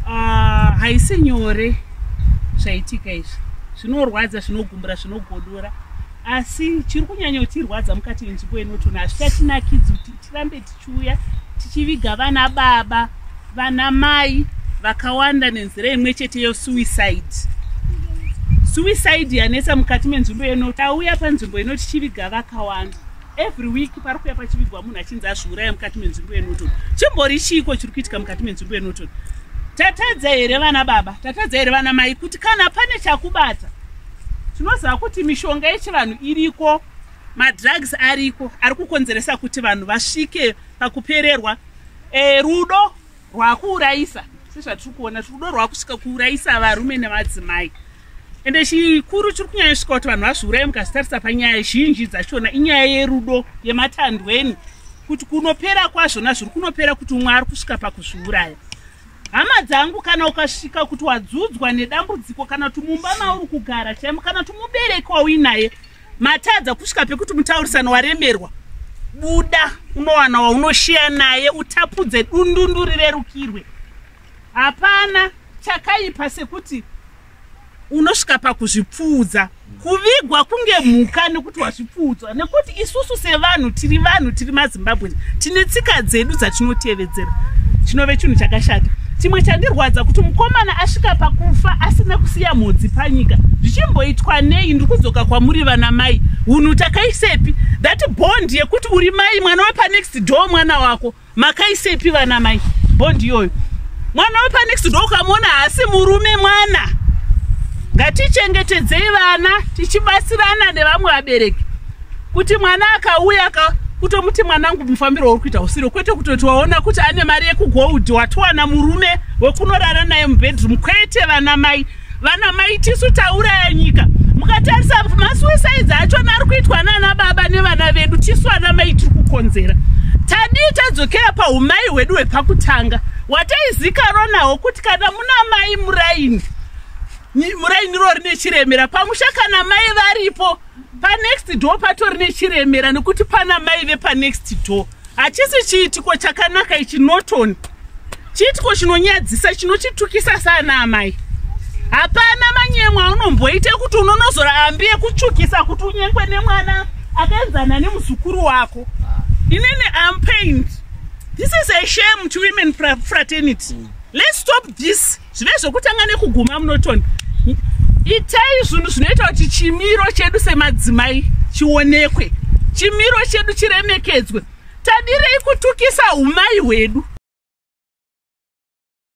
ah, haisi uh, nyore zvaitika izvi zvinorwadza zvinogumbura zvinogodora asi chiri kunyanya kutirwadza mukati yenzvimbo inotona hazvichatinakidzi kuti tirambe tichiuya tichiviga vana baba vana mai vakawanda nenzira imwe chete yosuicide suicide yanetsa mukati menzvimbo yenoti auya panzvimbo inoti chiviga vakawanda every week pari kuya pachivigwa munhu achinzi azviuraya mukati menzvimbo yenorton chimbori chiiko chiri kuitika mukati menzvimbo yenorton tatadza here vana baba tatadza here vana mai kuti kana pane chakubata tinoziva kuti mishonga yechivanhu iriko madrugs ariko ari kukonzeresa kuti vanhu vasvike pakupererwa e, rudo rwakuurayisa sezvatiri kuona rudo rwakusvika kuurayisa varume nevadzimai ende chikuru chiri kunyanya svika kuti vanhu vazviuraye mukazitarisa panyaya zhinji dzachona inyaya yerudo yematandweni kuti kunopera kwazvona zviri kunopera kuti umwe ari kusvika pakuzviuraya hama dzangu kana ukasvika kuti wadzudzwa nedambudziko kana kuti mumba mauri kugara chaimo kana kuti mubereki wauinaye matadza kusvika pekuti mutaurisano waremerwa buda unowana waunoshiya naye utapudze dundundu rirerukirwe hapana chakaipa sekuti unosvika pakuzvipfuudza kuvigwa kunge mhuka nekuti wazvipfuudzwa nekuti isusu sevanhu tiri vanhu tiri mazimbabwe tine tsika dzedu dzatinotevera kudzera chinove chinhu chakashata chimwe chandirwadza kuti mukomana asvika pakufa asina kusiya mhodzi panyika zvichimboitwa nei ndiri kudzoka kwamuri vana mai unhu takaisepi that bond yekuti uri mai mwana wepanext door mwana wako makaisepi vana mai bond iyoyo mwana wepanext door ukamona haasi murume mwana ngatichengetedzei vana tichibatsirana nevamwe vabereki kuti mwana akauya ka kutomuti mwanangu mufambiro wauri kuita usiro kwete kutoti waona kuti ane mari yekugold watowana murume wekunorara naye mubedroom kwete vana mai vana mai tisu tauraya nyika mukatarisa masuicides achona ari kuitwa nana baba nevana vedu tisu ana mai tiri kukonzera tadii tadzokera paumai hwedu hwepakutanga wataizikaro nawo kuti kana muna mai muraini muraini rori nechiremera pamusha kana mai varipo panext door patori nechiremera nekuti pana mai vepanext door hachisi chiitiko chakanaka ichi norton chiitiko chinonyadzisa chinochitukisa saana amai hapana manyemwa aunomboita kuti unonozora ambi yekutsvukisa kuti unyengwe nemwana akaenzana nemuzukuru wako inene ampaint this is a shame to women fraternity let's stop this zvive zvokutanga nekuguma munoton itai zvinhu zvinoita kuti chimiro chedu semadzimai chionekwe chimiro chedu chiremekedzwe tadirei kutukisa umai hwedu